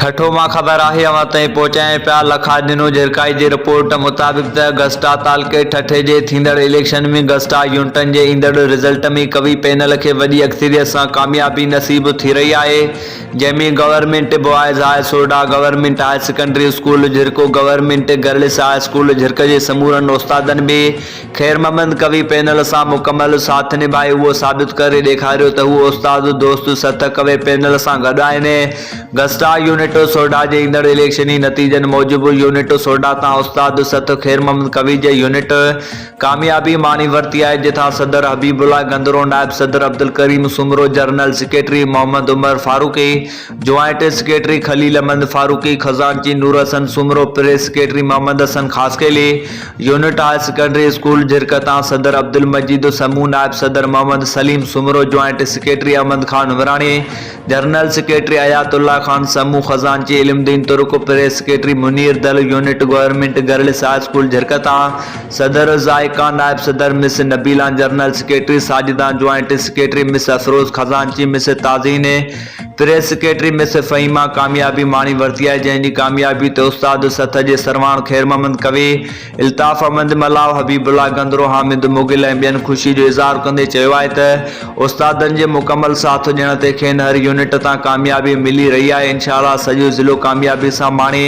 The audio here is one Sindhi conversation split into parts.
ٺٽو مان خبر آهي اوهان تائين پهچايان پيا لکا ڏنو جرڪائي جي رپورٽ مطابق ته گسٽا تعلقي ٺٽي جي ٿيندڙ اليڪشن ۾ گسٽا يونٽن جي ايندڙ رزلٽ ۾ قوي پينل کي وڏي اڪثريت سان ڪاميابي نصيب ٿي رهي آهي جنهن ۾ گورنمينٽ بوائز هاء سورڊا گورنمينٽ هاير سيڪنڊري اسڪول جھرڪو government girls high school Jhirk جي سمورن استادن به خير محمد ڪوي پينل سان مڪمل ساٿ نڀائي اهو ثابت ڪري ڏيکاريو ته هو استاد دوست سٿ ڪوي پينل سان گڏ آهن. گسٽا يونٽ سوڍا جي ايندڙ اليڪشني نتيجن موجب يونٽ سوڍا تان استاد سٿ خير محمد ڪوي جي يونٽ ڪاميابي ماڻي ورتي آهي جتان صدر حبيب الله گندرو نائب صدر Abdul Karim Soomro general secretary Muhammad Umar Farooqui joint secretary Khalil Ahmed Farooqui خزانچي Noor Hassan Soomro press secretary Muhammad Hassan Khaskheli unit high secondary school Jhirk تان صدر عبدالمجيد سمون، نائب صدر Muhammad Saleem Soomro, joint secretary Ahmed Khan Umrani, general secretary Hayat Allah Khan Samoon, خزانچي علم Din Turk, press secretary Munir Dil, unit government girls high school Jhirk تان صدر ذائقان، نائب صدر مس نبيلان، جنرل سيڪريٽري ساجدان، جوائنٽ سيڪريٽري مس افروز، خزانچي miss Tazeen, press secretary miss Fahima ڪاميابي ماڻي ورتي آهي جنهن جي ڪاميابي تي استاد سٿ جي سرواڻ خيرمحمد ڪوي، الطاف احمد ملاح، حبيب الله گندرو، حامد مغل ۽ ٻين خوشي جو اظهار ڪندي چيو آهي ته استادن جي مڪمل ساٿ ڏيڻ تي کين هر يونٽ تان ڪاميابي ملي رهي آهي انشاء الله سڄو ضلعو ڪاميابي سان ماڻي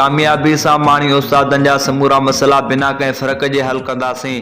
ڪاميابي سان ماڻي استادن جا سمورا مسئلا بنا ڪنهن فرق جي حل ڪنداسين.